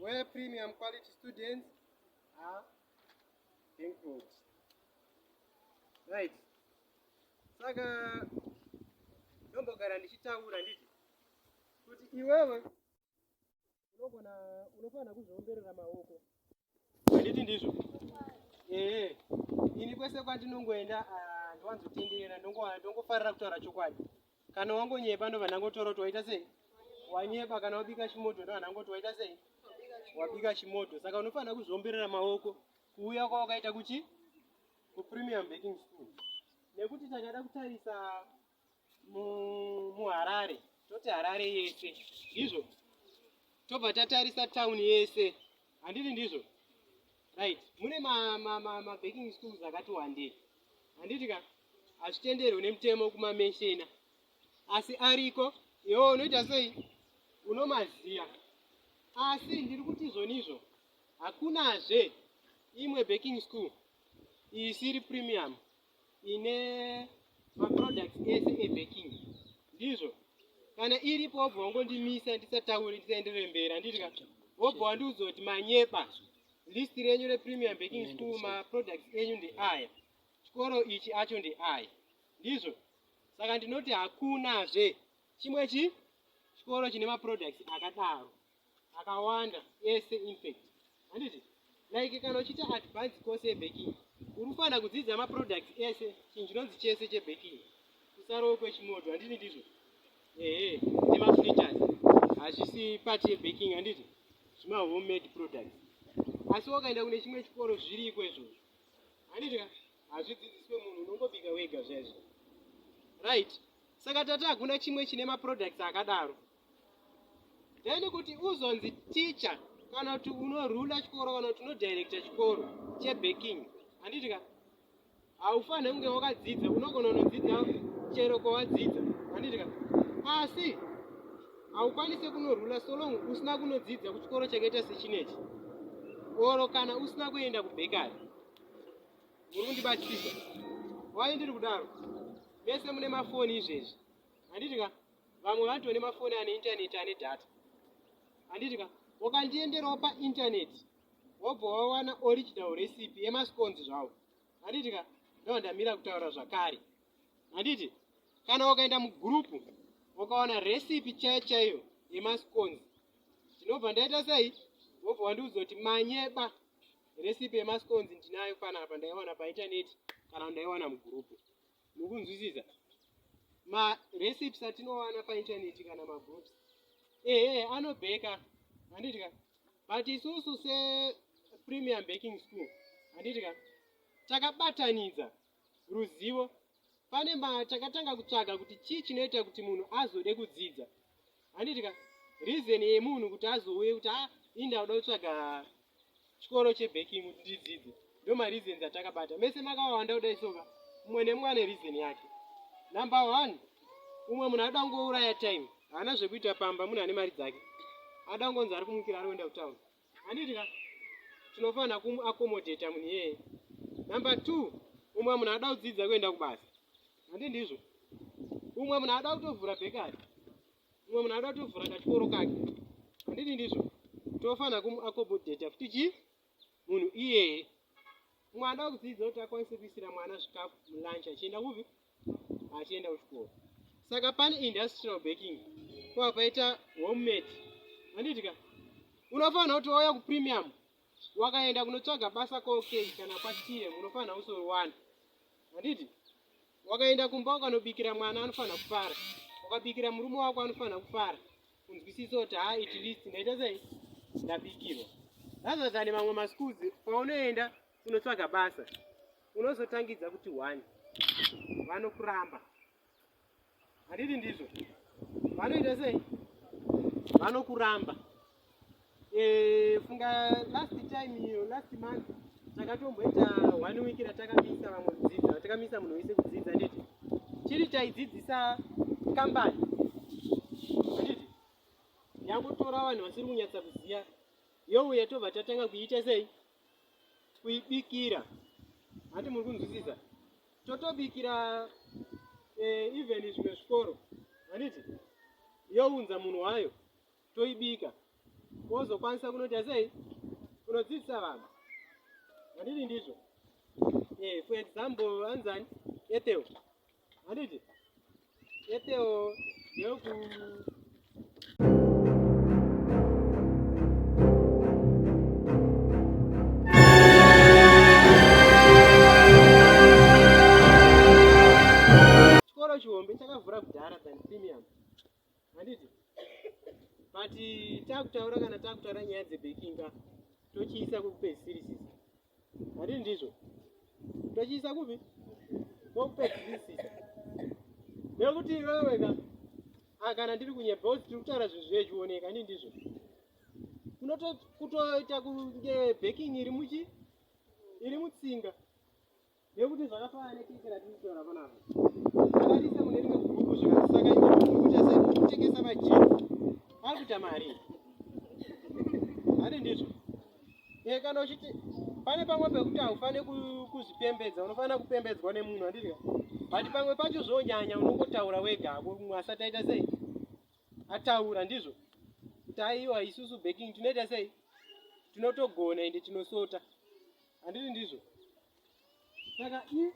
Where premium quality students are included. Right. Saka ndombogara ndichitaura nditi kuti iwewe unogona unofanira kuzviomberera maoko handiti ndizvo ehe ini kwese kwandinongoenda ah, ndwanzotenderera ndongofarira kutaura chokwadi kana wangonyepa ndobva ndangotora kuti waita sei wanyepa kana wabika chimodho ndobva ndangoti waita sei wabika chimodho saka unofanira kuzviomberera maoko kuuya kwawakaita kuchi kupremium baking school nekuti takada kutarisa muharare toti harare yese ndizvo tobva tatarisa town yese handiti ndizvo right mune mabaking schools akati wandei handiti ka hazvitenderwe nemutemo kumamenshena asi ariko iwo unoita sei unomaziya asi ndiri kuti izvonizvo hakunazve imwe baking school isiri premium ine maproducts ese ebaking ndizvo kana iripo wobva wangondimisa ndisataure ndisaenderere mberi handiti ka wobva wandiudza kuti manyepa list renyu repremium baking school maproducts enyu ndeaya chikoro ichi acho ndeaya ndizvo saka ndinoti hakunazve chimwe chi chikoro chine maproducts akadaro akawanda ese infact handiti like kana uchiita advance course yebaking uri kufanira kudzidza maproducts ese chinhu chinonzi chese chebaking kusarowo kwechimoto handiti ndizvo ehe nemafritas hazvisi pati yebaking handiti zvimahomemade products asi wakaenda kune chimwe chikoro zviriko izvozvo handiti hazvidzidziswe munhu unongobika wega zvaizvo right saka tati hakuna chimwe chine maproducts akadaro then kuti uzonzi teacher kana kuti unorula chikoro kana kuti unodirecta chikoro chebaking handiti ka haufanire kunge wakadzidza unogona unodzidza chero kwawadzidza handiti ka asi haukwanise kunorula solong usina kunodzidza kuchikoro chakaita sechinechi oro kana usina kuenda kubhekari uri kundibatsisa wai ndiri kudaro mese mune mafoni izvezvi handiti ka vamwe vanoti vane mafoni ane intaneti ane data handiti ka ukandienderawo paintaneti wobva wawana original recipe yemasconzi zvawo handiti ka ndovandamira kutaura zvakare handiti kana ukaenda mugurupu ukawana recipe chaiyo chaiyo yemasconzi ndinobva ndaita sei wobva wandiudzoti manyeba recipe yemasconzi ndinayo panapa ndaiwana paintaneti kana ndaiwana mugurupu mukunzwisisa marecipes atinowana paintaneti kana magroups ehe anobheka handiti ka but isusu sepremium baking school handiti ka takabatanidza ruzivo pane matakatanga kutsvaga kuti chii chinoita kuti munhu azode kudzidza handiti ka reason yemunhu kuti azouye kuti a ah, ini ndakuda kutsvaga chikoro chebaking kuti ndidzidze ndo mareasons atakabata mese makawawanda kudai soka mumwe nemumwe ane reason yake number one umwe munhu anoda kungouraya time haana zvekuita pamba munhu ane mari dzake anoda kungonzi ari kumukira ari kuenda kutown handiti ka tinofanira kumakomodheta munhu iyeye number two umwe munhu anoda kudzidza kuenda kubasa handi ndizvo umwe munhu anoda kutovhura bhekari umwe munhu anoda kutovhura kachikoro kake handiti ndizvo tinofanira kumakomodheta futi chii munhu iyeye umwe anoda kudzidza kuti akwanise kuisira mwana zvikafu mulunch achienda kupi achienda kuchikoro saka pane industrial baking kwava paita homemat handiti ka unofanira kuti wauya kupremium wakaenda kunotsvaga basa kokei kana kwatire unofanira kusoriwana handiti wakaenda kumba ukanobikira mwana anofanira kufara ukabikira murume wako anofanira kufara kunzwisisa kuti ha it least ndaita sei ndabikirwa rather than mamwe maschools paunoenda unotsvaga basa unozotangidza kuti one vanokuramba handiti ndizvo vanoita sei vanokuramba eh, funga last time iyo last month takatomboita one week ratakamisa vamwe kudzidza ratakamisa munhu wese kudzidza nditi chiri chaidzidzisa kambani handiti yangotora vanhu vasiri kunyatsa kuziva youya tobva tatanga kuiita sei kuibikira hati muri kunzwisisa totobikira eh, even zvimwe zvikoro handiti younza munhu wayo toibika wozokwanisa kunoita sei kunodzidzisa vanhu handiti ndizvo eh, for example anzani etewo Handiti? Etewo yoku Chikoro chihombe chakavhura kudhara than premium. Handiti? But takutaura kana takutaura nyaya dzebaking ka tochiisa kukupedzisirisa. Hadi ndizvo. Tochiisa kupi? Kokupedzisisa. Nekuti iwewe ka ah, kana ndiri kunyepa kuti tiri kutaura zvinhu zvechioneka hadi ndizvo. Kunotoita kunge backing iri muchi iri mutsinga. nekuti zvakafanana nekeke ratiri kutaura panapa akatiisa mune rimwe gurupu zvakati saka ikuti asai kutengesa majini ari kuita mari hadi ndizvo e kana uchiti pane pamwe pekuti haufanire kuzvipembedza unofanira kupembedzwa nemunhu andizvo but pamwe pacho zvonyanya unongotaura wega hako mumwe asati aita sei ataura ndizvo kuti aiwa isusu baking tinoita sei tinotogona ende tinosota handiti ndizvo saka i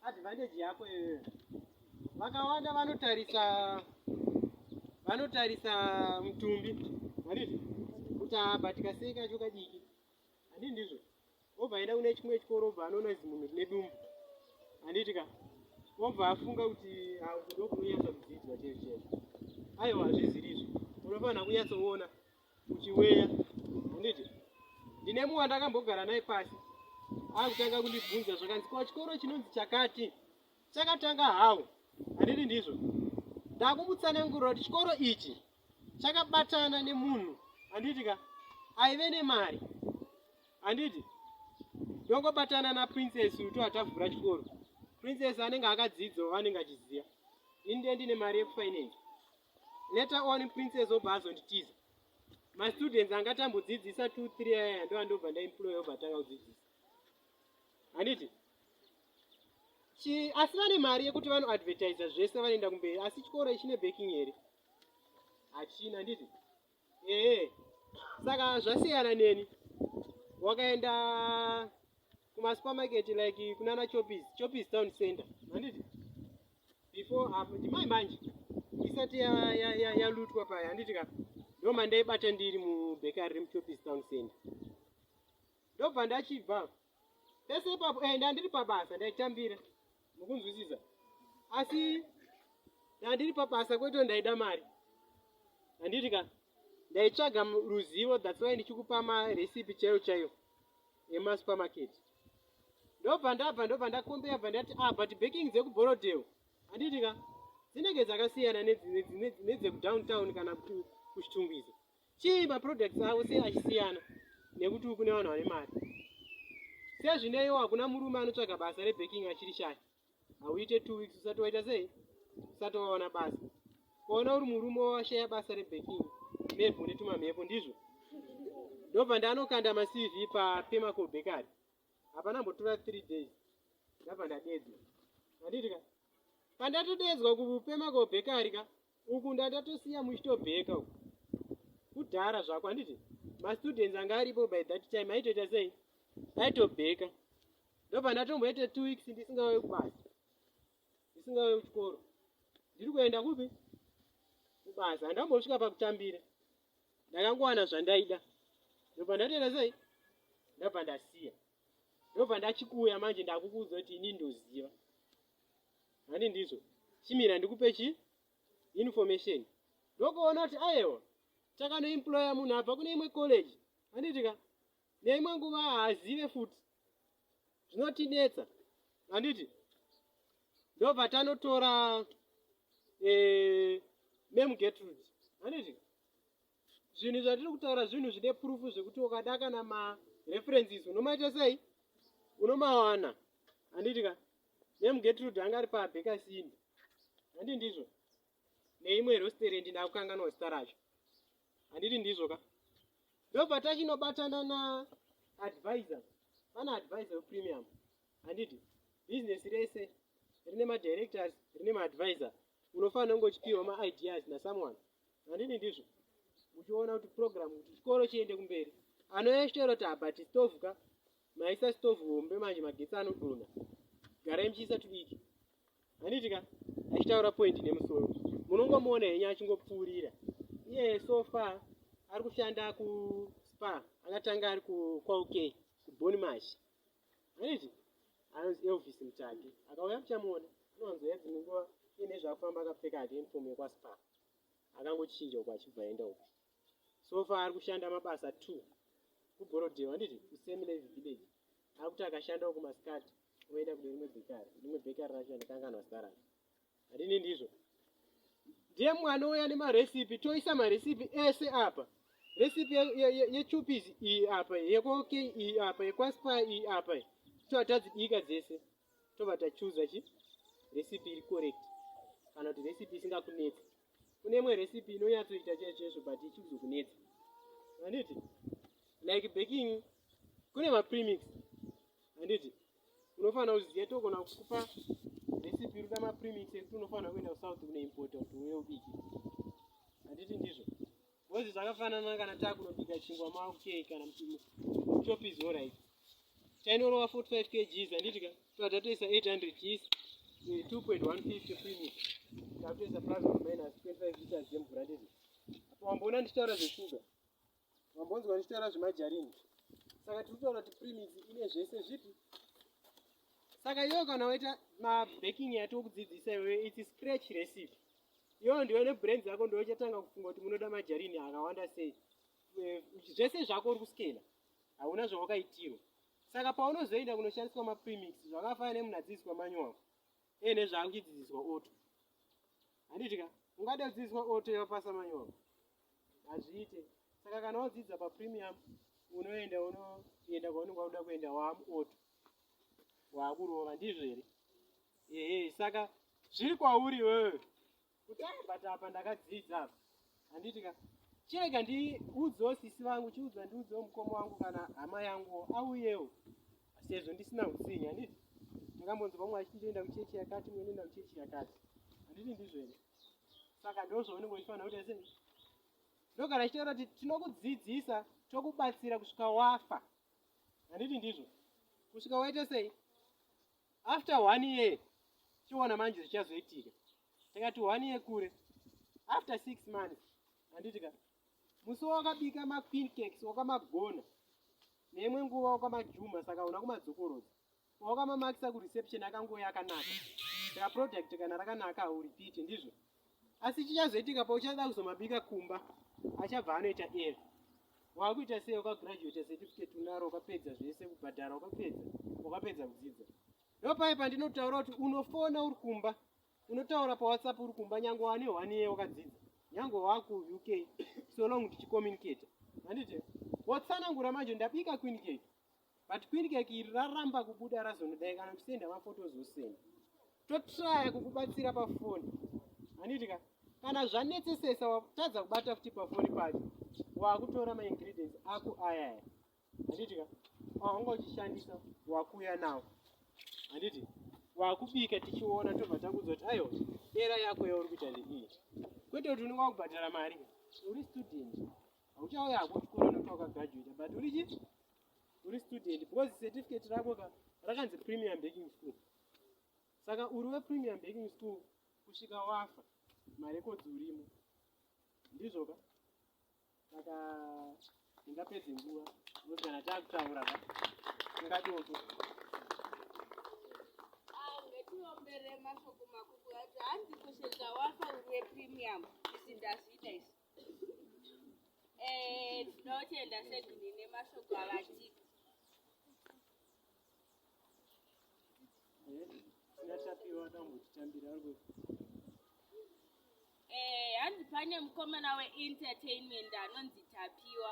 advantage yako iyoyo vakawanda vanotarisa vanotarisa mutumbi haniti kuti abatika sei kacho kadiki handii ndizvo obva aenda kune chimwe chikoro obva anoona izi munhu rine dumbu handiti ka obva afunga kuti akudokunonyatsa kudzidzwa chezvo chezvo aiwa hazvizirizvo unofanira kunyatsoona Chiweya handiti ndine mumwe wandakambogara naye pasi akutanga kundibvunza zvakanzi kwa chikoro chinonzi chakati chakatanga hawo handiti ndizvo ndakumutsanangurira kuti chikoro ichi chakabatana nemunhu handiti ka aive nemari handiti ndongobatana naprincess uto atavhura chikoro princess anenge akadzidzwa vanenge achiziva ini ndendine mari yekufinance Later on princess obva azonditiza. Ma students anga tambodzidzisa 2 3 aya ndo andobva ndaemploy obva atanga kudzidzisa. Handiti? Chi asi vane mari yekuti vano advertiser zvese vanoenda kumberi asi chikoro ichine backing here? Hachina handiti? Ehe. Saka zvasiyana neni. Wakaenda kuma supermarket like kunana Choppies, Choppies town center. Handiti? Before apo ndimai manje. Isati yalutwa ya, ya, ya yalutwa paya handiti ka? Ndo mandaibata ndiri mu bakery remu Choppies town center. Ndobva ndachibva. Pese ipapo eh ndandiri pabasa ndaitambira. mukunzwisisa asi ndandiri pabasa kwete ndaida mari handiti ka ndaitsvaga ruzivo that's why ndichikupa marecipe chaiyo chaiyo emasupermarket ndobva ndabva ndobva ndakombeya bva ndati ah but baking dzekuborodel handiti ka dzinenge dzakasiyana nedzekudowntown kana kuchitungwiza Chii maproducts avo sei achisiyana nekuti uku nevanhu vane mari? Sezvineiwo hakuna murume anotsvaga basa rebaking achiri shaya. Hauite two weeks usati waita sei? Usati waona basa. Kuona uri murume washaya basa rebaking maybe une tumamhepo ndizvo? Ndobva ndanokanda maCV paPemaco Bakery. Hapana mbotora three days. Ndabva ndadedzwa. Handiti ka? Pandatodeedzwa kuPemaco Bakery ka uku ndandatosiya muchitobheka uku kudhara zvako handiti mastudents anga aripo by that time aitoita sei aitobheka ndobva ndatomboita two weeks ndisingauye kubasa ndisingauye kuchikoro ndiri kuenda kupi kubasa handambosvika pakutambira ndakangowana zvandaida ndobva ndatoita sei ndabva ndasiya ndobva ndachikuuya manje ndakukuudza kuti ini ndoziva handi ndizvo chimira ndikupe chi information ndokuona kuti ayewa takanoemploya munhu abva kune imwe college handiti ka neimwe nguva haazive futi zvinotinetsa handiti ndobva tanotora eh, memu getrude handiti zvinhu zvatiri kutaura zvinhu zvine purufu zvekuti ukada kana mareferences unomaita sei unomawana handiti ka nemugetrud anga ari pabhekasini handi ndizvo neimwe rosterendi ndakukanganwa zita racho handiti ndizvo ka ndobva tachinobatana na advisor pana advisor wepremium handiti business rese rine madirectors rine maadvisor unofanira kunge uchipiwa maideas nasomeone handidi ndizvo uchiona kuti program kuti chikoro chiende kumberi anoyesvero taba tistovhu ka maisa stovhu hombe manje magetsi anodona garai muchiisa tudiki handiti ka achitaura pointi nemusoro munongomuona henyu achingopfuurira iye so far ari kushanda kuspa akatanga ari kuqk kuboni mashi Zvinoiti anonzi Elvis Mutsvage akauya kuchamuona anowanzoya dzimwe nguva iye nezvaakufamba akapfeka hake uniform yekwaSpar akangochinja uko achibva aenda uko so far ari kushanda mabasa two kugorodhewa handiti kusame live village akuti akashandawo kumasikati oenda kune rimwe bhekari rimwe bhekari racho andikanganwa zita racho Adini ndizvo. Ndiye mwana uya nemarecipe toisa marecipe ese apa. Recipe yechupis iyi apa yekoke iyi apa yekwaspa iyi apa toatadzibika dzese tobva tachuza chi recipe iri correct kana kuti recipe isingakunetsa. Kune imwe recipe inonyatsoita chaicho chaicho but ichizokunetsa. Handiti? Like baking kune mapremix. Handiti? unofanira kuziva togona kukupa recipe ruda mapremix ekuti unofanira kuenda kusouth kunoimpota kuti uye ubike handiti ndizvo bcozi zvakafanana kana takunobika chingwa maukei kana muchopizi orit tainorova 45 kgs handiti ka tova tatoisa 800 gs 2.150 premix tatoisa plus minus 25 liters yemvura ndizvo apo wamboona ndichitaura zveshuga mambonzwa ndichitaura zvemajarini saka tiri kutaura kuti primis ine zvese zvipi saka iyo kana waita mabaking yati wokudzidzisa iwe its scratch recipe iyo ndiwe nebrain dzako ndiwe uchatanga kufunga kuti munoda majarini akawanda sei eh, zvese zvako uri kuskena hauna zvawakaitirwa saka paunozoenda kunoshandiswa maprimix zvakafanana nemunhu adzidziswa manyowako ee eh, nezvaangidzidziswa oto handiti ka ungada kudzidziswa oto yavapasa manyowako hazviite saka kana wadzidza papremium unoenda unoenda kwaunenge wakuda kuenda waamuoto waakurova ndizvo here ehe saka zviri kwauri wewe kuti abata apa ndakadzidza apa handiti ka chirega ndiudzewo sisi vangu chiudza ndiudzewo mukoma wangu kana hama yanguwo auyewo sezvo ndisina utsinye handiti ndakambonzwa vamwe vachiti ndoenda kuchechi yakati mwe ndoenda kuchechi yakati handiti ndizvo here saka ndozvaunenge uchifanira kuita sei ndogara chitaura kuti tinokudzidzisa tokubatsira kusvika wafa handiti ndizvo kusvika waita sei after one year chiona manje zvichazoitika takati one year kure after six months handiti ka musi wakabika mafincax wakamagona neimwe nguva wakamajuma saka una kumadzokorodza Waoka mama akisa ku reception akangoya akanaka. Saka product kana rakanaka u repeat ndizvo. Asi chichazoitika pa uchada kuzomabika kumba achabva anoita air. Wakuita sei uka graduate certificate unaro ukapedza zvese kubhadhara ukapedza ukapedza kudzidza. Ndopai pandinotaura kuti unofona uri kumba unotaura pa WhatsApp uri kumba nyange wane one year wakadzidza nyange waku UK so long tichi communicate. Handiti? Wotsanangura manje ndabika queen cake. but queencake iri raramba kubuda razonodai kana kusenda maphotos osenda totraya kukubatsira pafoni handiti ka kana zvanetsesesa watadza kubata futi pafoni pacho wakutora maingredients ako ayaya handiti ka wanga uchishandisa wakuuya nawo handiti wakubika tichiona tobva takuudza kuti aiwa era yako yauri kuita ndeiyi kwete kuti unenge wakubhadhara mari uri student hauchauya hako chikoro nokuti wakagraduata but uri chii uri student because certificate rako ka rakanzi premium baking school saka uri wepremium baking school kusvika wafa marekodzi urimo ndizvo ka saka ndingapedze nguva nokuti kana taakutaura ka tingatoko tiomberemashoko makukuati hanzi kusvika wafa uri wepremium isi ndazviita isi Eh, tinotenda segini nemashoko avatipa yatapiwa tambotitambira ariko eh hanzi pane mukomana weentertainment anonzi tapiwa